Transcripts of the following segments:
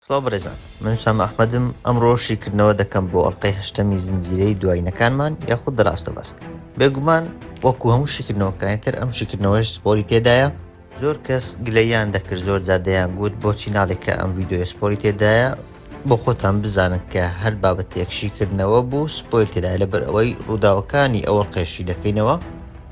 سڵاو بەڕێزان من سام ئەحمەدم ئەمڕۆ شیکردنەوە دەکەم بۆ ئەڵلقەی هەشتەمی زنجیرەی دوایینەکانمان یاخود دراستە بەس بێگومان وەکو هەموو شیکردنەوەکانی تر ئەم شیکردنەوەش سپۆری تێدایە زۆر کەس گلەییان دەکرد زۆر جار دەیان گوت بۆچی ناڵێک کە ئەم ڤیددیوی سپۆری تێدایە بۆ خۆتان بزانن کە هەر بابەتێک شیکردنەوە بوو سپۆیل تێدای لەبەر ئەوەی ڕووداوەکانی ئەوە قێشی دەکەینەوە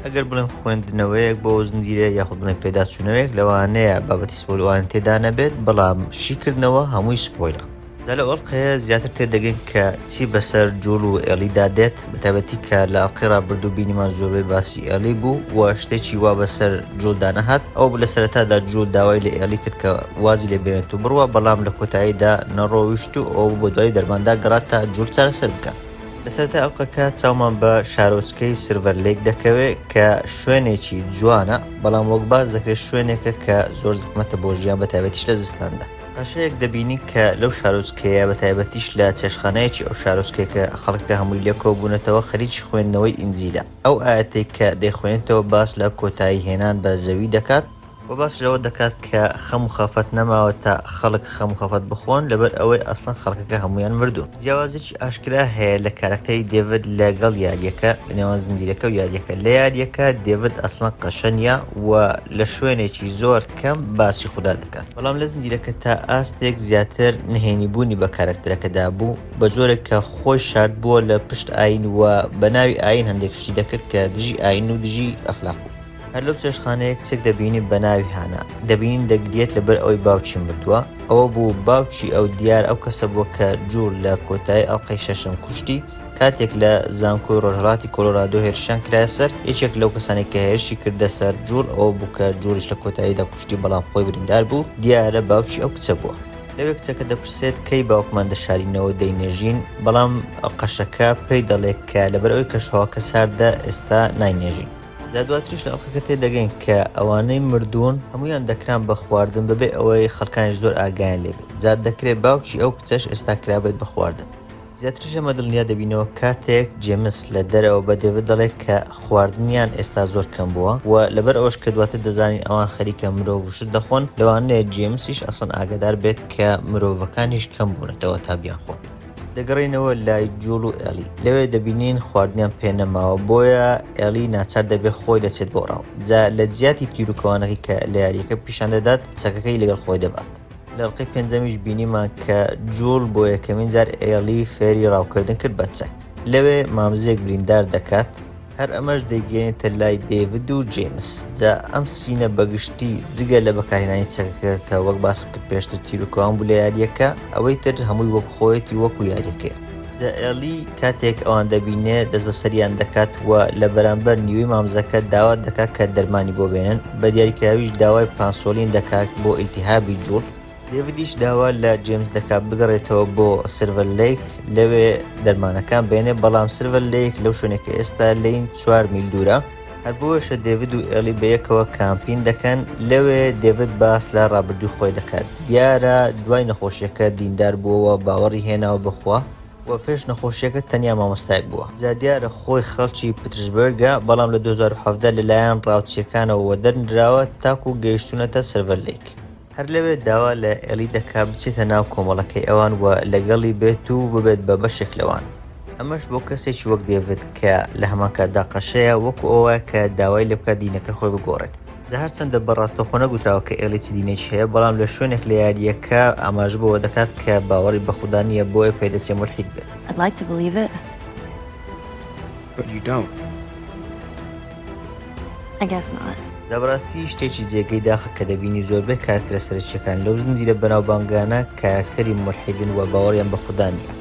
ئەگەر بڵێم خوێندنەوەیەک بۆ زنجیرە یاخود بڵێن پێداچوونەوەیەک لەوانەیە بابەتی سپۆلوان تێدا نەبێت بەڵام شیکردنەوە هەمووی سپۆیلە جا لەو ئەڵقەیە زیاتر تێدەگەین کە چی بەسەر جوڵ و ئێڵیدا دێت بەتابەتی کە لە ئەڵلقەی ڕابردوو بینیمان زۆربەی باسی ئێلی بوو و شتێکی وا بەسەر جوولدا نەهات ئەو لە سەرەتادا جوول داوای لە ئێلی کرد کە وازی لێ بێنێت و بڕوە بەڵام لە کۆتاییدا نەڕۆیشت و ئەو بۆ دوای دەرماندا گەڕات تا جوول چارەسەر بکات لەسەرتا ئەڵلقەکە چاومان بە شارۆچکەی سرڤەر لێک دەکەوێت کە شوێنێکی جوانە بەڵام وەک باز دەکرێت شوێنێکە کە زۆر زەحمەتە بۆ ژیان بەتابەتیش لە زستاندا قەشەیەک دەبینی کە لەو شارۆچکەیە بە تایبەتیش لە چێشخانەیەکی ئەو شارۆچکەیە کە خەڵکەکە هەمووی لێ کۆبوونەتەوە خەریکی خوێندنەوەی ئینجیلە ئەو ئایەتەی کە دەیخوێنێتەوە باس لە کۆتایی هێنان بە زەوی دەکات و باس لەوە دەکات کە خەم و خەفەت نەماوە تا خەڵک خەم و خەفەت بخۆن لەبەر ئەوەی ئەسڵەن خەڵکەکە هەموویان مردوون. جیاوازیەکی ئاشکرا هەیە لە کارەکتەری دێڤد لە گەڵ یاریەکە لە نێوان زنجیرەکە و یاریەکە لە یاریەکە دێڤد ئەسڵەن قەشە نیە و لە شوێنێکی زۆر کەم باسی خودا دەکات، بەڵام لە زنجیرەکە تا ئاستێک زیاتر نهێنی بوونی بە کارەکتەرەکە دابوو، بە جۆرێک کە خۆی شاردبووە لە پشت ئایین و بە ناوی ئایین هەندێک شتی دەکرد کە دژی ئایین و دژی ئەخلاق بوو. هەر لەو چێشتخانەیە کچێک دەبینی بە ناوی هانا، دەبینین دەگریێت لەبەر ئەوەی باوکی مردووە، ئەوە بوو باوکی ئەو دیار ئەو کەسە بووە کە جوول لە کۆتایی ئەڵقەی شەشەم کوشتی، کاتێک لە زانکۆی ڕۆژهەڵاتی کۆلۆرادۆ هێرشیان کرایە سەر، یەکێک لەو کەسانەی کە هێرشی کردە سەر جوڵ ئەوە بوو کە جوڵیش لە کۆتاییدا کوشتی بەڵام خۆی بریندار بوو، دیارە باوکی ئەو کچە بووە. لەوێ کچەکە دەپرسێت کەی باوکمان دەشارینەوە دەینێژین، بەڵام قەشەکە پێی دەڵێ کە لەبەر ئەوەی کەشوهەواکە ساردە ئێستا ناینێژین. جا دواتریش لە ئەڵقەکە تێدەگەین کە ئەوانەی مردوون هەموویان دەکران بە خواردن بەبێ ئەوەی خەڵکانیش زۆر ئاگایان لێبێت، جا دەکرێت باوکی ئەو کچەش ئێستا کرابێت بە خواردن. زیاتریش لەمە دڵنیا دەبینەوە کاتێک جێمس لە دەرەوە بە دێڤد دەڵێت کە خواردنیان ئێستا زۆر کەم بووە و لەبەر ئەوەش کە دواتر دەزانین ئەوان خەریکە مرۆڤ و شت دەخۆن، لەوانەیە جێمسیش ئەسڵەن ئاگادار بێت کە مرۆڤەکانیش کەم بوونەتەوە تا بیانخۆن. دەگەڕێینەوە لای جوڵ و ئێڵی، لەوێ دەبینین خواردنیان پێ نەماوە، بۆیە ئێڵی ناچار دەبێت خۆی دەچێت بۆ ڕاو، جا لە جیاتی تیروکەوانەکەی کە لە یارییەکە پیشان دەدات، چەکەکەی لەگەڵ خۆی دەبات. لەڵقەی پێنجەمیش بینیمان کە جوڵ بۆ یەکەمین جار ئێڵی فێری ڕاوکردن کرد بە چەک لەوێ مامزێک بریندار دەکات هەر ئەمەش دەیگەێنێتە لای دەیڤد و جیمس جا ئەم سینە بەگشتی جگە لە بەکارهێنانی چەکەکە کە وەک باسم کرد پێشتر تیرروکەوان بوو لە یاریەکە ئەوەی تر هەمووی وەک خۆیەتی وەکو یاریەکەی جا ئێڵی کاتێک ئەوان دەبینێ دەست بە سەریان دەکات و لە بەرامبەر نیوەی مامزەکە داوا دەکات کە دەرمانی بۆ بێنن بە دیاریکراویش داوای پانسۆلین دەکات بۆ ئیلتیهابی جوڵ، دێڤدیش داوا لە جێمس دەکات بگەڕێتەوە بۆ سیلڤەر لەیک لەوێ دەرمانەکان بێنێ بەڵام سیلڤەر لەیک لەو شوێنێ کە ئێستا لێین چوار میل دوورە. هەر بۆیەشە دێڤد و ئێڵی بە یەکەوە کامپین دەکەن، لەوێ دێڤد باس لە ڕابردووی خۆی دەکات، دیارە دوای نەخۆشییەکە دیندار بووەوە، باوەڕی هێناوە بە خوا، وە پێش نەخۆشییەکە تەنیا مامۆستایەک بووە، جا دیارە خۆی خەڵکی پترسبەرگە، بەڵام لە دوو هەزار و حەڤدە لەلایەن ڕاوچییەکانەوە وەدەرنراوە تاکوو گەیشتوونەتە سلڤەر لەیک. هەر لەوێ داوا لە ئێڵی دەکات بچێتە ناو کۆمەڵەکەی ئەوان و لەگەڵی بێت و ببێت بە بەشێک لەوان، ئەمەش بۆ کەسێکی وەک دێڤد کە لە هەمان کاتدا قەشەیە، وەکو ئەوە وایە کە داوای لێ بکات دینەکەی خۆی بگۆڕێت. جا هەرچەندە بە ڕاستەوخۆ نەگوتراوە کە ئێڵی چ دینێکی هەیە، بەڵام لە شوێنێک لە یارییەکە ئاماژە بەوە دەکات کە باوەڕی بە خودا نییە، بۆیە پێدەچێ مولحید بێت. But you don't. I guess not. لە بەڕاستی شتێکی جێگەی داخە کە دەبینی زۆربەی کارکترە سەرچیەکان لەو زنجیرە بەناوبانگانە کارکتەری ملحیدن و باوەڕیان بە خودا نیە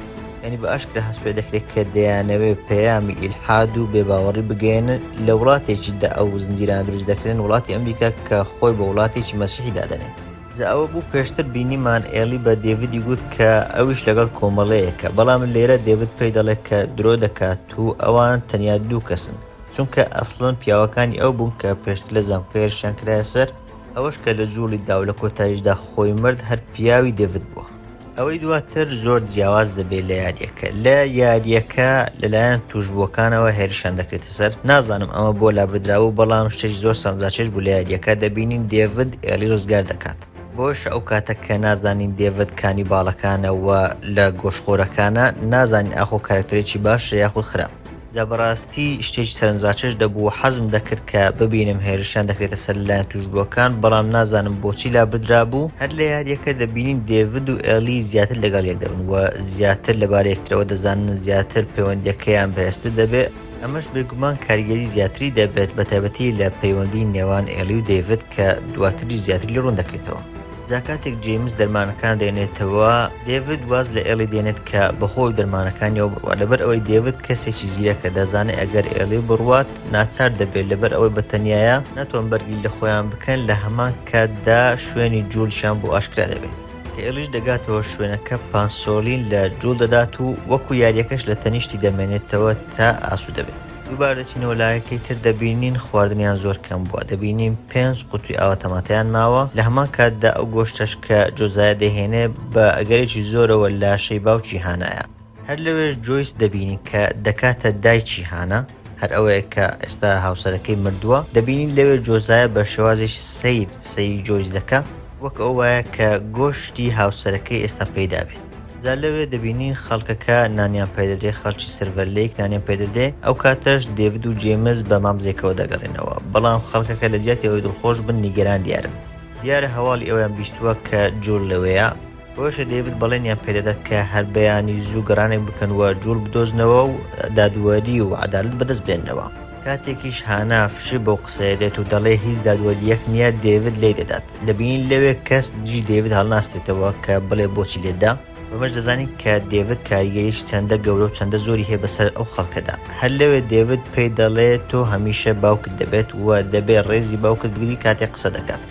ینی بە ئاشکرا هەست پێ دەکرێت کە دەیانەوێ پەیامی ئیلحاد و بێباوەڕی بگەێنن لە وڵاتێکیدا ئەو زنجیران دروست دەکرێن وڵاتی ئەمریکا کە خۆی بە وڵاتێکی مەسیحی دادەنێت جا ئەوە بوو پێشتر بینیمان ئێڵی بە دێڤدی گوت کە ئەویش لەگەڵ کۆمەڵەیەکە، بەڵام لێرە دێڤد پێی دەڵێت کە درۆ دەکات و ئەوان تەنیا دوو کەسن، چونکە ئەسڵەن پیاوەکانی ئەو بوون کە پێشتر لە زانکۆ هێرشیان کرایە سەر، ئەوەش کە لە جوڵیدا و لە کۆتاییشدا خۆی مرد هەر پیاوی دێڤد بووە. ئەوەی دواتر زۆر جیاواز دەبێت لە یاریەکە لە یاریەکە لەلایەن توشبووەکانەوە هێرشان دەکرێتە سەر نازانم ئەمە بۆ لابردراوە بەڵام شتێک زۆر سانزاچێش بوو لە یاریەکە دەبینین دێڤد ئێلی ڕزگار دەکات بۆش ئەو کاتە کە نازانین دێڤد کانی باڵەکانەوە لە گۆشخۆرەکانە نازانین ئاخۆ کارکتەرێکی باشە یاخود خراپ جا بەڕاستی شتێکی سەرنجڕاکێش دەبوو، حەزم دەکرد کە ببینم هێرشیان دەکرێتە سەر لەلایەن تووشبووەکان، بەڵام نازانم بۆچی لابردرابوو. هەر لە یارییەکە دەبینین دێڤد و ئێڵی زیاتر لەگەڵ یەک دەبن و زیاتر لەبارەی یەکترەوە دەزانن، زیاتر پەیوەندییەکەیان بەهێزتر دەبێت، ئەمەش بێگومان کاریگەری زیاتری دەبێت، بەتایبەتی لە پەیوەندیی نێوان ئێڵی و دێڤد کە دواتریش زیاتر لێ ڕوون دەکرێتەوە. جا کاتێک جەیمس دەرمانەکان دەێنێتەوە دێڤد واز لە ئێڵی دێنێت کە بەخۆ و دەرمانەکانیەوە بڕوات لەبەر ئەوەی دێڤد کەسێکی زیرەکە دەزانێت ئەگەر ئێڵی بڕوات ناچار دەبێت لەبەر ئەوەی بەتەنایە ناتوان بەرگری لە خۆیان بکەن لە هەمان کاتدا شوێنی جوولشان بۆ ئاشکرا دەبێت کە ئێڵیش دەگاتەوە شوێنەکە پانسۆلین لە جوول دەدات و وەکو یاریەکەش لە تەنیشتی دەمێنێتەوە تا ئاسو دەبێت. دووبار دەچینەوە لایەکەی تر دەبینین خواردنیان زۆر کەم بووە دەبینین پێنج قوتوی ئاوە تەماتەیان ماوە لە هەمان کاتدا ئەو گۆشتەش کە جۆزایە دەهێنێ بە ئەگەرێکی زۆرەوە لاشەی باوکی هانایە هەر لەوێش جۆیس دەبینین کە دەکاتە دایکی هانا هەر ئەوەیە کە ئێستا هاوسەرەکەی مردووە دەبینین لەوێ جۆزایە بە شێوازێکی سیر سەیری جۆیس دەکە وەک ئەو وایە کە گۆشتی هاوسەرەکەی ئێستا پێدابێت جا لەوێ دەبینین خەڵکەکە نانیان پێدەدرێ خەڵکی سەرڤەلەیەک نانیان پێدەدرێ ئەو کاتەش دێڤد و جێمز بە مامزێکەوە دەگەڕێنەوە بەڵام خەڵکەکە لە جیاتی ئەوەی دڵخۆش بن نیگەران دیارن دیارە هەواڵی ئەویان بیستووە کە جوڵ لەوێیە بۆیشە دەیڤد بەڵێنیان پێدەدات کە هەر بەیانی زوو گەڕانێک بکەن و جوڵ بدۆزنەوە و دادوەری و عەدالت بەدەست بێننەوە کاتێکیش هانا فشی بەو قسەیە دێت و دەڵێ هیچ دادوەریەک نییە دێڤد لێی دەدات دەبینین لەوێ کەس دژی دەیڤد هەڵناستێتەوە کە بڵێ بۆچی لێدا بەمەش دەزانین کە دەیڤد کاریگەریش چەندە گەورە و چەندە زۆری هەیە بەسەر ئەو خەڵکەدا هەر لەوێ دەیڤد پێی دەڵێ تۆ هەمیشە باوکت دەبێت و دەبێ ڕێزی باوکت بگری کاتێ قسە دەکات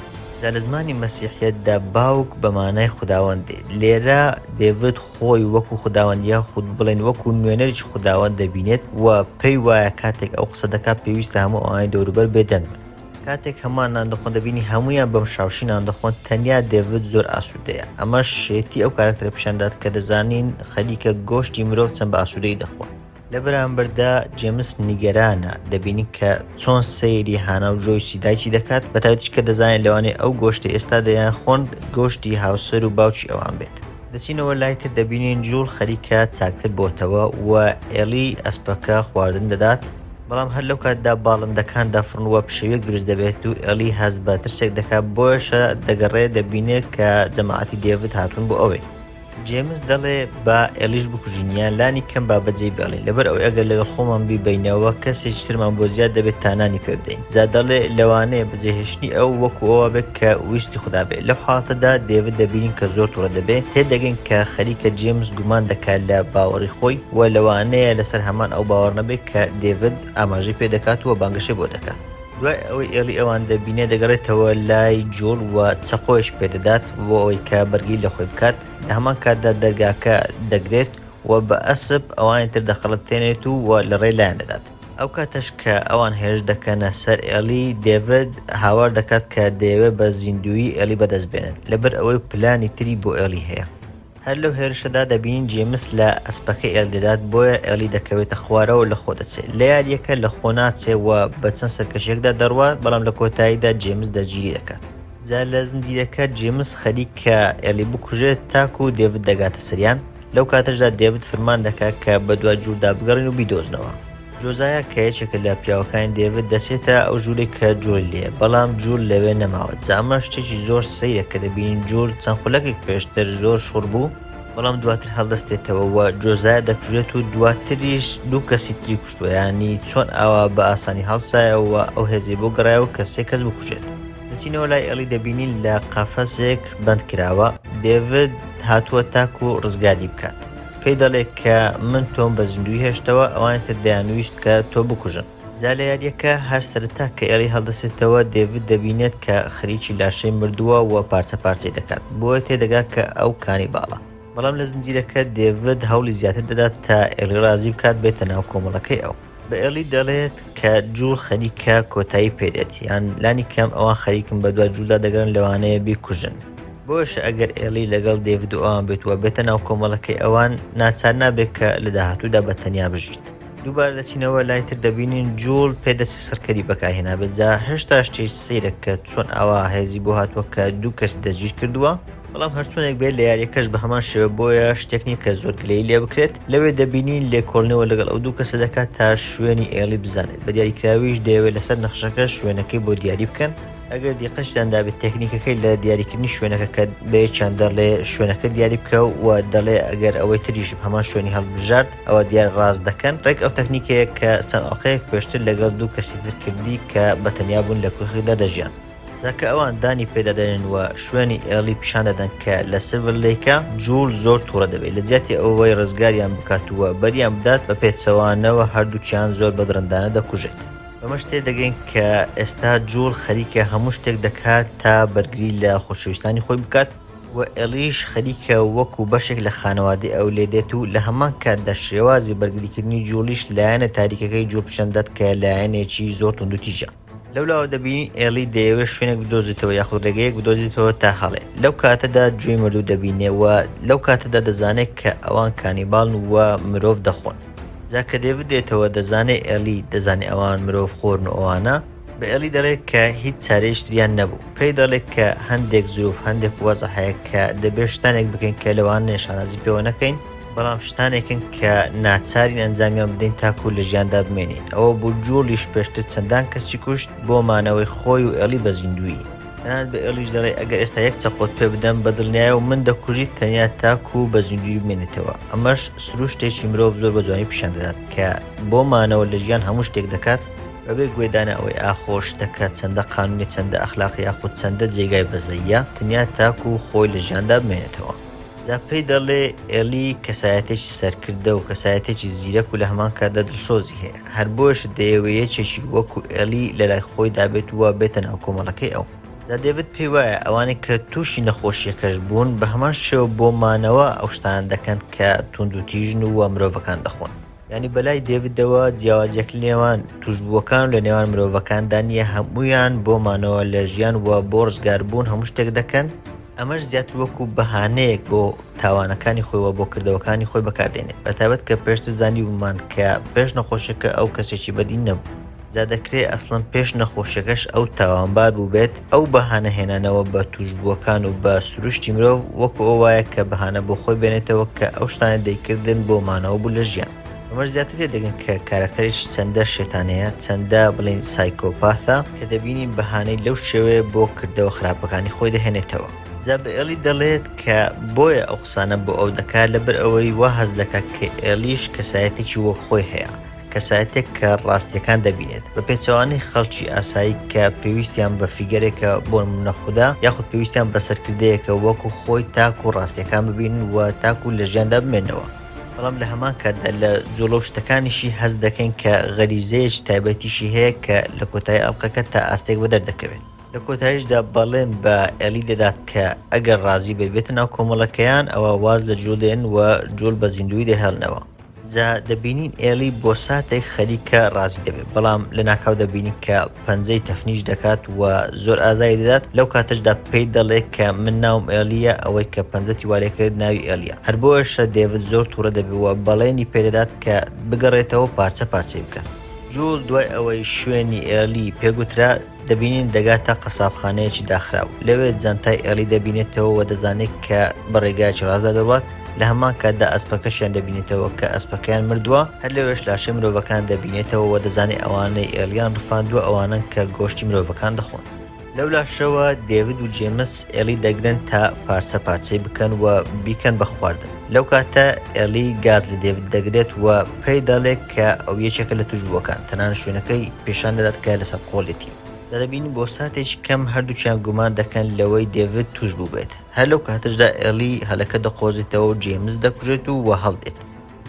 جا لە زمانی مەسیحیەتدا باوک بە مانای خوداوەند دێ لێرە دەیڤد خۆی وەکو خوداوەند یاخود بڵێن وەکو نوێنەریی خوداوەند دەبینێت و پێی وایە کاتێک ئەو قسە دەکات پێویستە هەموو ئەوانەی دەوروبەر بێدەنگ بن کاتێک هەموان نان دەخۆن دەبینی هەمویان بەم شاوشی نان دەخۆن تەنیا دێڤد زۆر ئاسودەیە ئەمەش شێتی ئەو کارەکتەرە پیشان دات کە دەزانین خەریکە گۆشتی مرۆڤ چەند بە ئاسودەی دەخۆن لە بەرامبەردا جێمس نیگەرانە دەبینی کە چۆن سەیری هانا و جۆیسی دایکی دەکات بە تایبەتیش کە دەزانێت لەوانەیە ئەو گۆشتی ئێستا دەیان خۆن گۆشتی هاوسەر و باوکی ئەوان بێت دەچینەوە لای تر دەبینین جوڵ خەریکە چاکتر بۆتەوە و ئێلی ئەسپەکە خواردن دەدات بەڵام هەر لەو کاتدا باڵندەکان دەفڕن و پشێویەک دروست دەبێت و ئێڵی هەست بە ترسێک دەکات بۆیشە دەگەڕێ دەبینێت کە جەماعەتی دێڤد هاتوون بۆ ئەوێ جێمس دەڵێ با ئێلیش بکوژینیان لانی کەم با بەجێ بێڵین لەبەر ئەو ئەگەر لەگەڵ خۆمان بیبینەوە کەسێکی ترمان بۆ زیاد دەبێت تانانی پێ بدەین جا دەڵێ لەوانەیە بەجێهێشتنی ئەو وەکو ئەوە بێت کە ویستی خوددا بێت لەو حاڵتەدا دێوت دەبینین کە زۆر توڕە دەبێت تێدەگەین کە خەریکە جێمس گومان دەکات لە باوەڕی خۆی وە لەوانەیە لەسەر هەمان ئەو باوەڕ نەبێت کە دێڤد ئاماژەی پێ دەکات و بانگەشەی بۆ دەکات. دوای ئەوەی ئێڵی ئەوان دەبینێت، دەگەڕێتەوە لای جوڵ و چەقۆیش پێ دەدات بۆ ئەوەی کە بەرگری لە خۆی بکات، لە هەمان کاتدا دەرگاکە دەگرێت و بە ئەسپ ئەوانی تر دەخەڵەتێنێت و لە ڕێ لایان دەدات. ئەو کاتەش کە ئەوان هێرش دەکەنە سەر ئێڵی، دێڤد هاوار دەکات کە دەیەوێت بە زیندوویی ئێڵی بەدەست بێنێت، لەبەر ئەوەی پلانی تری بۆ ئێڵی هەیە. هەر لەو هێرشەدا دەبینین جێمس لە ئەسپەکەی ئێڵی دەدات بۆیە ئێڵی دەکەوێتە خوارەوە لە خۆ دەچێت لە یاریەکە لە خۆ ناچێ و بە چەند سەرکەشێکدا دەڕوات بەڵام لە کۆتاییدا جێمس دەستگیری دەکات جا لە زنجیرەکە جێمس خەریک کە ئێلی بکوژێت تاکو و دێوت دەگاتە سریان لەو کاتەشدا دێوت فرمان دەکات کە بە دوا جووردا بگەڕین و بیدۆزنەوە جۆزایا کە یەکێکە لە پیاوەکانی دێڤد دەچێتە ئەو ژوورێک کە جۆری لێ بەڵام جوور لەوێ نەماوە جا ئەمە شتێکی زۆر سەیرە کە دەبینین جوور چەند خولەکێک پێشتر زۆر شوڕ بوو بەڵام دواتر هەڵدەستێتەوە و جۆزایا دەکوژێت و دواتریش دوو کەسی تری کوشتووە یانی چۆن ئاوا بە ئاسانی هەڵسایەوە و ئەو هێزەی بۆ گەڕایەوە کە سێ کەس بکوژێت دەچینەوە لای ئێڵی دەبینین لە قەفەسێک بەند کراوە دێڤد هاتووە تاکوو ڕزگاری بکات. پێی دەڵێ کە من تۆم بە زیندووی هێشتەوە، ئەوانی تر دەیانویست کە تۆ بکوژن. جا لە یارییەکە هەر سەرەتا کە ئێڵی هەڵدەسێتەوە، دێڤید دەبینێت کە خەریکی لاشەی مردووە و پارچە پارچەی دەکات، بۆیە تێدەگات کە ئەو کانیباڵە. بەڵام لە زنجیرەکە دێڤید هەوڵی زیاتر دەدات تا ئێڵی ڕازی بکات بێتە ناو کۆمەڵەکەی ئەو. بە ئێڵی دەڵێت کە جوول خەریکە کۆتایی پێدێت یان لانی کەم ئەوان خەریکن بە دوا جوولدا دەگەڕن لەوانەیە بیکوژن بۆش ئەگەر ئێڵی لەگەڵ دێڤد و ئەوان بێت وە بێتە ناو کۆمەڵەکەی ئەوان ناچار نابێت کە لە داهاتوودا بە تەنیا بژیت. دووبارە دەچینەوە لای تر دەبینین جوڵ پێدەسی سڕکەری بەکارهێنابێت جا هێشتا شتێک سەیرە کە چۆن ئاوا هێزی بۆ هاتووە کە دوو کەسی دەستگیر کردووە بەڵام هەرچۆنێک بێت لە یاریەکەش بە هەمان شێوە بۆیە شتێک نییە کە زۆر گلەی لێ بکرێت لەوێ دەبینین لێکۆلنەوە لەگەڵ ئەو دوو کەسە دەکات تا شوێنی ئێڵی بزانێت بە دیاریکراویش دەیەوێت لەسەر نەخشەکە شوێنەکەی بۆ دیاری بکەن ئەگەر دیقەشتان دابێت تەکنیکەکەی لە دیاریکردنی شوێنەکە کە بەیەکیان دەڵێ شوێنەکە دیاری بکە و دەڵێ ئەگەر ئەوەی تریش هەمان شوێنی هەڵبژارد ئەوە دیار ڕاست دەکەن ڕێک ئەو تەکنیکەیە کە چەند ئەڵلقەیەک پێشتر لەگەڵ دوو کەسی ترکردی کە بەتەنیا بوون لە کوخدا دەژیان جا کە ئەوان دانی پێدا دەنێن و شوێنی ئێڵی پیشان دەدەن کە لە سڤر لەیکە، جوول زۆر تووڕە دەبێت، لە جیاتی ئەوەی ڕزگاریان بکات و بەریان بدات، بە پێچەوانەوە هەردووکیان زۆر بە دڕندانە دەکوژێت. بەمەش تێدەگەین کە ئێستا جوول خەریکە هەموو شتێک دەکات تا بەرگری لە خۆشەویستانی خۆی بکات و ئێڵیش خەریکە وەکو بەشێک لە خانەوادەی ئەو لێ دێت و لە هەمان کاتدا شێوازی بەرگریکردنی جووڵیش لایەنە تاریکەکەی جوول پیشان دەدات کە لایەنێکی زۆر توندوتیژە. لەولاوە دەبینی ئێڵی دەیەوێت شوێنێک بدۆزیتەوە یاخود ڕێگەیەک بدۆزیتەوە تا هەڵێ لەو کاتەدا گوێی مردوو دەبینێ و لەو کاتەدا دەزانێت کە ئەوان کانیباڵن و مرۆڤ دەخۆن جا کە دێڤ دێتەوە دەزانێ ئێلی دەزانێ ئەوان مرۆڤ خۆرن و ئەوانە بە ئێلی دەڵێت کە هیچ چارەیشتریان نەبوو پێی دەڵێت کە هەندێک زروف هەندێک وەزە هەیە کە دەبێت شتانێک بکەین کە لەوان نێشانازی پێوە نەکەین بەڵام شتانێکن کە ناچارین ئەنجامیان بدەین تاکو لە ژیاندا بمێنین ئەوە بوو جوڵیش پێشتر چەندان کەسی کوشت بۆ مانەوەی خۆی و ئێڵی بە زیندوویی تەنانەت بە ئێڵیش دەڵێ ئەگەر ئێستا یەک چەقۆت پێ بدەم بە دڵنیایەوە من دەکوژیت تەنیا تاکو بە زیندووی بمێنێتەوە ئەمەش سروشتێکی مرۆڤ زۆر بە جوانی پیشان دەدات کە بۆ مانەوە لە ژیان هەموو شتێک دەکات بەبێ گوێدانە ئەوەی ئاخۆ شتەکە چەندە قانونی چەندە ئەخلاقی یاخود چەندە جێگای بەزەییە تەنیا تاکو خۆی لە ژیاندا بمێنێتەوە. جا پێی دەڵێ ئێلی کەسایەتێکی سەرکردە و کەسایەتێکی زیرەک و لە هەمان کاتدا دڵسۆزی هەیە هەر بۆیەش دەیەوێ یەکێکی وەکو ئێلی لە لای خۆی دابێت و بێتە ناو کۆمەڵەکەی ئەو جا دێڤد پێی وایە ئەوانەی کە تووشی نەخۆشییەکەش بوون بە هەمان شێوە بۆ مانەوە ئەو شتانە دەکەن کە تووندوتیژن و مرۆڤەکان دەخۆن. یانی بەلای دێویدەوە جیاوازیەک لێوان توشبووەکان لە نێوان مرۆڤەکاندا نییە هەمویان بۆ مانەوە لە ژیان وە بۆ ڕزگاربوون هەموو شتێک دەکەن ئەمەش زیاتر وەکو بەهانەیەک بۆ تاوانەکانی خۆیەوە بۆ کردەوەکانی خۆی بەکاردێنێت بەتابەت کە پێشتر زانی بوومان کە پێش نەخۆشیەکە ئەو کەسێکی بەدین نەبوو جا دەکرێ ئەسڵەن پێش نەخۆشیەکەش ئەو تاوانبار بووبێت، ئەو بەهانە هێنانەوە بە تووشبووەکان و بە سروشتی مرۆڤ وەکو ئەو وایە کە بەهانە بۆ خۆی بێنێتەوە کە ئەو شتانەی دەیکردن بۆ مانەوە بوو لە ژیان. بەمەش زیاتر تێدەگەن کە کارەکتەریش چەندە شێتانەیە، چەندە بڵێین سایکۆپاثە کە دەبینین بەهانەی لەو شێوەیە بۆ کردەوە خراپەکانی خۆی دەهێنێتەوە. جا بە ئێڵی دەڵێت کە بۆیە ئەو قسانە بۆ ئەو دەکات لەبەر ئەوەی وا هەست دەکات کە ئێڵیش کەسایەتێکی وەک خۆی هەیە. کەسایەتێک کە ڕاستیەکان دەبینێت بە پێچوانی خەڵکی ئاسایی کە پێویستیان بە فیگەرێکە بۆ نەخدا یاخود پێویستیان بە سەرکردەیەکە وەکو خۆی تاکو و ڕاستیەکان ببین و تاکو لە ژیاندا بمێنەوە بەڵام لە هەمان کاتدا لە جوڵە و شتەکانیشی هەز دەکەین کە غەریزەیەک تایبەتیشی هەیە کە لە کۆتایی ئەڵلقەکە تا ئاستێک بە دەردەکەوێت لە کۆتایشدا بەڵێن بە ئەلی دەدات کە ئەگەر ڕازی بێت بێتە ناو کۆمەڵەکەیان ئەوە واز لە جوڵێن و جوڵ بە زیندوی دەهێڵنەوە. جا دەبینین ئێڵی بۆ ساتێک خەریکە ڕازی دەبێت بەڵام لە ناکاو دەبینین کە پەنجەی تەفنیش دەکات و زۆر ئازای دەدات لەو کاتەشدا پێی دەڵێت کە من ناوم ئێلیە ئەوەی کە پەنجەتی وارێکرد ناوی ئێلیە هەر بۆشە دێوت زۆر تووڕە دەبیوە بەڵێنی پێدەدات کە بگەڕێتەوە پارچە پارچەی بکات جوڵ دوای ئەوەی شوێنی ئێلی پێگوترا دەبینین دەگاتە قەسابخانەیەکی داخراو، لەوێ جانتای ئێڵی دەبینێتەوە و دەزانێت کە بە ڕێگایەکی ڕاستدا دەڕوات، لە هەمان کاتدا ئەسپەکەشیان دەبینێتەوە کە ئەسپەکەیان مردووە، هەر لەوێش لاشەی مرۆڤەکان دەبینێتەوە و دەزانێت ئەوانەی ئێڵیان ڕفاندووە ئەوانەن کە گۆشتی مرۆڤەکان دەخۆن. لەو لاشەوە دێڤید و جێمس ئێڵی دەگرن تا پارچە پارچەی بکەن و بیکەن بە خواردن. لەو کاتە ئێڵی گاز لە دێڤد دەگرێت و پێی دەڵێت کە ئەو یەکێکە لە توشبووەکان، تەنانەت شوێنەکەی پیشان دەدات کە لە سەرقۆڵیەتی. جا دەبینین بۆ ساتێکی کەم هەردووکیان گومان دەکەن لەوەی دێڤد توشبوو بێت. هەر لەو کاتەشدا ئێڵی هەلەکە دەقۆزێتەوە و جەیمس دەکوژێت و وەهەڵدێت.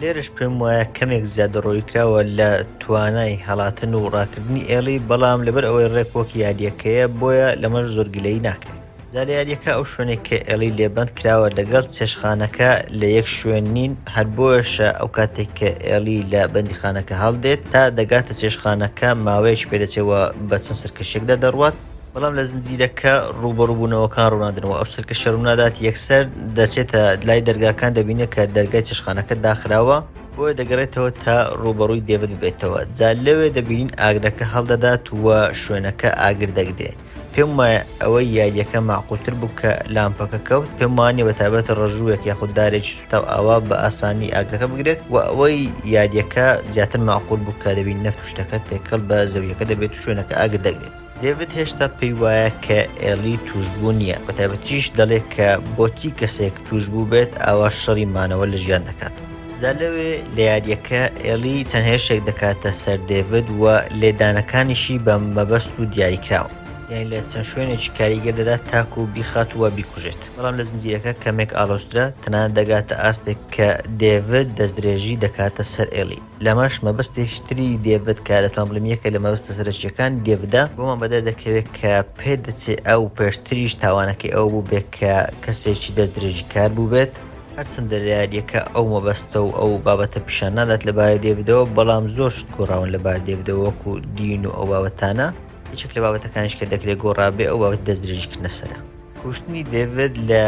لێرەش پێم وایە کەمێک زیادەڕۆیی کراوە لە توانای هەڵاتن و ڕاکردنی ئێڵی، بەڵام لەبەر ئەوەی ڕێک وەک یارییەکەیە بۆیە لەمەش زۆر گلەیی ناکرێت. جا لە یاریەکە ئەو شوێنێک کە ئێڵی لێبند کراوە لەگەڵ چێشخانەکە لە یەک شوێن نین هەر بۆشە ئەو کاتێک کە ئێڵی لە بەندیخانەکە هەڵدێت تا دەگاتە چێشخانەکە ماوەیەش پێدەچێەوە بە چەند سەرکەشێکدا دەڕوات بەڵام لە زنجیرەکە ڕوبەڕوبوونەوەکان ڕوونادنەوە ئەو سەرکە شەرونادات یەکسەر دەچێتە لای دەرگاکان دەبینێت کە دەرگای چێشخانەکە داخراوە بۆیە دەگەڕێتەوە تا ڕوبەڕووی دێوت ببێتەوە جا لەوێ دەبینین ئاگرەکە هەڵدەدات وە شوێنەکە ئاگر دەگرێت پێم وایە ئەوەی یاریەکە ماقوتر بوو کە لامپەکە کەوت پێم وانە بە تابەت ڕژووێک یاخود دارێکی سوتا و ئاوا بە ئاسانی ئاگرەکە بگرێت و ئەوەی یاریەکە زیاتر ماقول بوو کە دەبین نەفت شتەکە تێکەڵ بە زەویەکە دەبێت و شوێنەکە ئاگر دەگرێت دەیڤد هێشتا پێی وایە کە ئێلی توشبوو نییە بە تایبەتیش دەڵێت کە بۆچی کەسێک توشبوو بێت ئاوا شەڕی مانەوە لە ژیان دەکات. جا لەوێ لە یاریەکە ئێڵی چەند هێرشێک دەکاتە سەر دێڤد و لێدانەکانیشی بە مەبەست و دیاریکراون یانی لە چەند شوێنێکی کاریگەر دەدات تاکو بیخات و بیکوژێت بەڵام لە زنجیرەکە کەمێک ئاڵۆزترە تەنانەت دەگاتە ئاستێک کە دێڤد دەستدرێژی دەکاتە سەر ئێڵی. لەمەش مەبەستێکی تری دێڤد کە دەتوان بڵێم یەکە لە مەبەستە سەرەکییەکانی دێڤدە، بۆمان بەدەر دەکەوێت کە پێ دەچێ ئەو پێشتریش تاوانەکەی ئەوە بووبێت کە کەسێکی دەستدرێژیکار بووبێت، هەرچەندە لە یارییەکە ئەو مەبەستە و ئەو بابەتە پیشان نادات لەبارەی دێڤدەوە، بەڵام زۆر شت گۆڕاون لەبارەی دێڤدەوە وەکو دین و ئەو بابەتانە، یەکێک لە بابەتەکانیش کە دەکرێ گۆڕابێ ئەو بابەتی دەستدرێژیکردنە سەرە. کوشتنی دەیڤد لە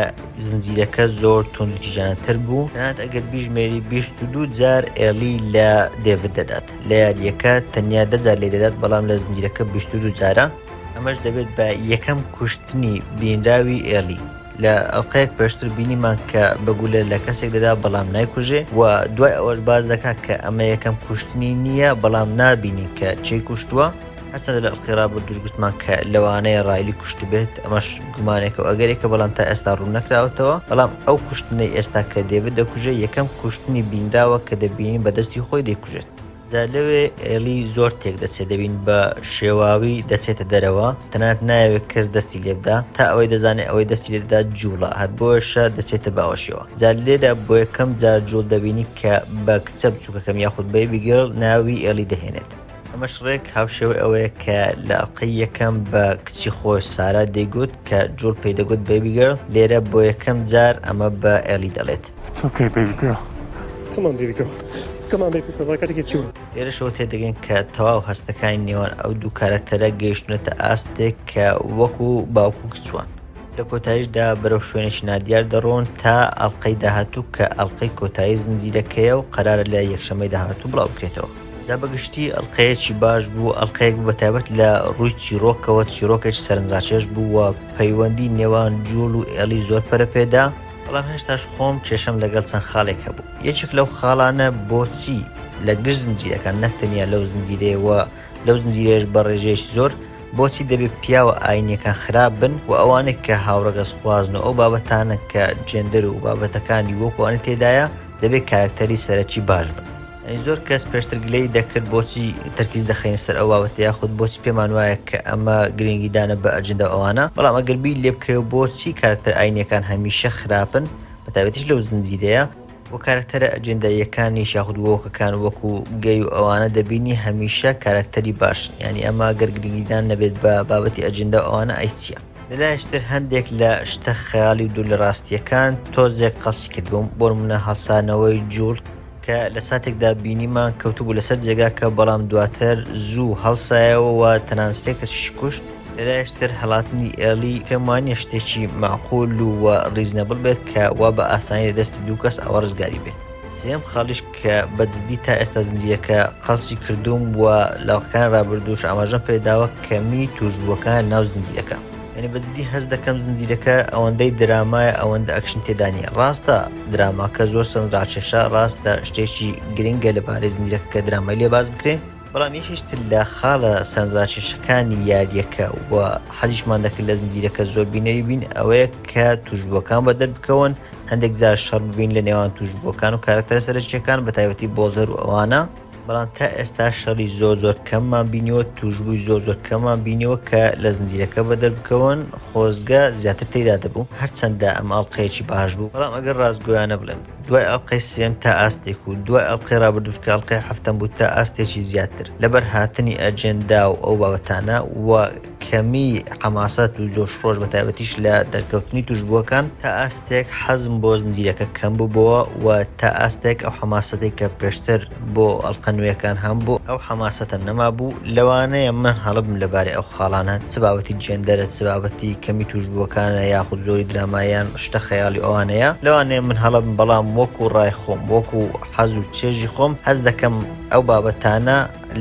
زنجیرەکە زۆر توندوتیژانەتر بوو تەنانەت ئەگەر بیژمێری بیست و دوو جار ئێڵی لە دەیڤد دەدات لە یارییەکە تەنیا دە جار لێ دەدات بەڵام لە زنجیرەکە بیست و دوو جارە ئەمەش دەبێت بە یەکەم کوشتنی بینراوی ئێڵی لە ئەڵلقەیەک پێشتر بینیمان کە بەگولە لە کەسێک دەدا بەڵام نایکوژێ و دوای ئەوەش باز دەکات کە ئەمە یەکەم کوشتنی نییە بەڵام نابینی کە چی کوشتووە هەرچەندە لە ئەڵقەی ڕابردووش گوتمان کە لەوانەیە ڕایلی کوشتبێت ئەمەش گومانێکە و ئەگەرێکە بەڵام تا ئێستا ڕوون نەکراوەتەوە بەڵام ئەو کوشتنەی ئێستا کە دێبت دەکوژێ یەکەم کوشتنی بینراوە کە دەبینین بەدەستی خۆی دەیکوژێت جا لەوێ ئێلی زۆر تێک دەچێت دەبین بە شێواوی دەچێتە دەرەوە تەنات ناوێت کەس دەستی لێبدا تا ئەوەی دەزانێت ئەوەی دەستی لێدا جوڵە هەر بۆشە دەچێتە باوەشەوە جا لێدا بۆ یەکەم جار جوڵ دەبینی کە بە کچە بچووکەکەم یاخود بەیبیگەڵ ناوی ئێلی دەهێنێت ئەمەش ڕێک هاوشێوەی ئەوەیە کە لە ئەڵلقەی یەکەم بە کچی خۆش سارا دەیگوت کە جوڵ پێی دەگوت بەبیگەر لێرە بۆ یەکەم جار ئەمە بە ئێلی دەڵێت تۆکەی بەبیگەر کەمان بەبیگەر کەمان بەبیگەڕەکەێکی چوو لێرەشەوە تێدەگەن کە تەواو هەستەکانی نێوان ئەو دوو کارەکتەرە گەیشتونەتە ئاستێک کە وەکو باوکو کچوان لە کۆتاییشدا بەرەو شوێنێکی نادیار دەڕۆن تا ئەڵلقەی داهاتوو کە ئەڵلقەی کۆتایی زنجیرەکەیە و قەرارە لە یەکشەمەی داهاتوو بڵاوکرێتەوە جا بەگشتی ئەڵقەیەکی باش بوو ئەڵلقەیەک بوو بە تایبەت لە ڕووی چیرۆکەوە چیرۆکێک سەرنجڕاکێش بوو و پەیوەندی نێوان جوڵ و ئێڵی زۆر پەرە پێدا بەڵام هێشتاش خۆم کێشەم لەگەڵ چەند خاڵێک هەبوو یەکێک لەو خاڵانە بۆچی لە گشت زنجیرەکان نەک تەنیا لەو زنجیرەیەوە لەو زنجیرێش بە ڕێژەیەکی زۆر بۆچی دەبێت پیاوە ئاینەکان خراپ بن و ئەوانێک کە هاوڕەگەز خوازن و ئەو بابەتانە کە جێندەر و بابەتەکانی وەکوانی تێدایە دەبێت کارکتەری سەرەکی باش بن زۆر کەس پێشتر گلەی دەکرد بۆچی تەرکیز دەخەین سەر ئەو بابەتە یاخود بۆچی پێمان وایە کە ئەمە گرنگیدانە بە ئەجندە ئەوانە بەڵام ئەگەر بیر لێ بکەوێ بۆچی کارکتەر ئاینەکان هەمیشە خراپن بە تایبەتیش لەو زنجیرەیە و کارکتەرە ئەجنداییەکانیش یاخود وۆکەکان وەکو گەی و ئەوانە دەبینی هەمیشە کارکتەری باشن یعنی ئەمە گەر گرنگیدان نەبێت بە بابەتی ئەجندە و ئەوانە ئەی چییە؟ لەلایشتر هەندێک لە شتە خەیاڵی و دوور لە ڕاستییەکان تۆزێک قەسی کردووم بۆ نموونە هەڵسانەوەی جووڵ کە لە ساتێکدا بینیمان کەوتبوو لەسەر جێگاکە بەڵام دواتر زوو هەڵسایەوە و تەنان سێ کەسیش کوشت لەلایشتر هەڵاتنی ئێڵی پێم وانە شتێکی معقول و و ڕیزنەبڵ بێت کە وا بە ئاسانی لە دەستی دوو کەس ئەوە ڕزگاری بێت سێم خاڵیش کە بەجددی تا ئێستا زنجیرەکە قەڵسی کردووم و لەڵقەکان ڕابردووش ئاماژەم پێداوە کەمی توشبووەکان ناو زنجیرەکە یەنی بە جدی هەست دەکەم زنجیرەکە ئەوەندەی درامایە ئەوەندە ئەکشن تێدانە ڕاستە دراماکە زۆر سند ڕاکێشە ڕاستە شتێکی گرنگە لە بارەی زنجیرەکە کە درامای لێ باز بکرێ بەڵام یەکیشتر لە خاڵە سەرنجڕاکێشەکانی یاریەکە و حەزیشمان دەکرد لە زنجیرەکە زۆر بینەری بین ئەوەیە کە توشبووەکان بە دەربکەون هەندێک جار شەڕ ببین لە نێوان توشبووەکان و کارکتەرە سەرچیەکان بە تایبەتی بۆڵدەر و ئەوانە بەڵام تا ئێستا شەڕی زۆر زۆر کەممان بینیوە توشببووی زۆر زۆر کەمان بینیوە کە لە زنجیرەکە بە دەربکەون خۆزگە زیاتر تێدا دەبوو هەرچەندە ئەم ئەڵلقەیەکی باش بوو بەڵام ئەگەر ڕاستگویانە بڵێن دوای ئەڵلقەی سێم تا ئاستێک و دوای ئەڵلقەی ڕابردوش کە ئەڵلقەی هەفتم بوو تا ئاستێکی زیاتر لەبەر هاتنی ئەجێندا و ئەو بابەتانە و کەمیی حەماسەت و جۆشخرۆش بە تایبەتیش لە دەرکەوتنی تووشبووەکان، تا ئاستێک حەزم بۆ زنجیرەکە کەم ببۆوە و تا ئاستێک ئەو حەماسەتەی کە پێشتر بۆ ئەڵقە نوێیەکان هەمبوو، ئەو حەماسەتەم نەمابوو، لەوانەیە من هەڵەبم لەبارەی ئەو خاڵانە، چ بابەتی جێندەرە، چ بابەتی کەمی تووشبووەکانە یاخود زۆری دراما یان شتە خەیاڵی ئەوانەیە، لەوانەیە من هەڵەبم بەڵام وەکوو ڕای خۆم، وەکوو حەز و چێژی خۆم، حەز دەکەم ئەو بابەتانە،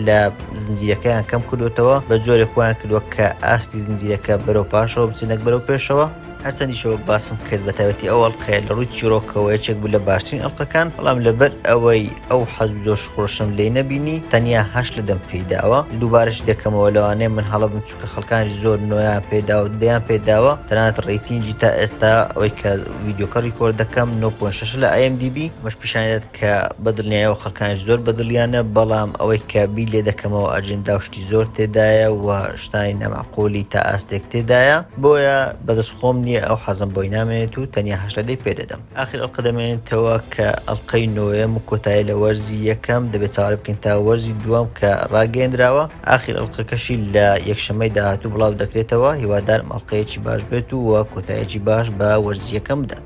لە زنجیرەکەیان کەم کردوتەوە بە جۆرێک وایان کردووە کە ئاستی زنجیرەکە بەرەو پاشەوە بچنەک بەرەو پێشەوە هەرچەندیشەوە باسم کرد بە تایبەتی ئەو ئەڵلقەیە لە ڕووی چیرۆکەوە یەکێک بوو لە باشترین ئەڵلقەکان بەڵام لەبەر ئەوەی ئەو حەز زۆش خۆشم لێ نەبینی تەنیا هەش لە دەم پیداوە دووبارش دەکەمەوە لەوانەیە من هەڵە بم چووکە خەڵکانی زۆر نۆیان پێدا و دەیان پێداوە تەنانەت ڕیتینجی تا ئێستا ئەوەی کە ڤیددیوکە ڕیکۆرد دەکەم 9.6 لە ئەم دیبی مەش پیشانێت کە بە دڵنیایەوە خەڵکانیش زۆر بە دڵیانە، بەڵام ئەوەی کە بیر لێ دەکەمەوە ئەجێندا و شتی زۆر تێدایە و شتانی نامەعقوولی تا ئاستێک تێدایە، بۆیە بە دەست خۆم نییە، ئەو حەزم بۆی نامێنێت و تەنیا هەشت لە دەی پێ دەدەم. ئاخر ئەڵقە دەمێنێتەوە کە ئەڵقەی نۆیەم و کۆتایە لە وەرزی یەکەم، دەبێت چاوەڕێ بکەین تا وەرزی دووەم کە ڕاگەیەندراوە، ئاخر ئەڵقەکەشی لە یەکشەممەی داهاتوو بڵاو دەکرێتەوە، هیوادارم ئەڵقەیەکی باش بێت و کۆتایەکی باش بە وەرزی یەکەم بدات.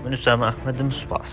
من ئوسامە ئەحمەدم سوپاس.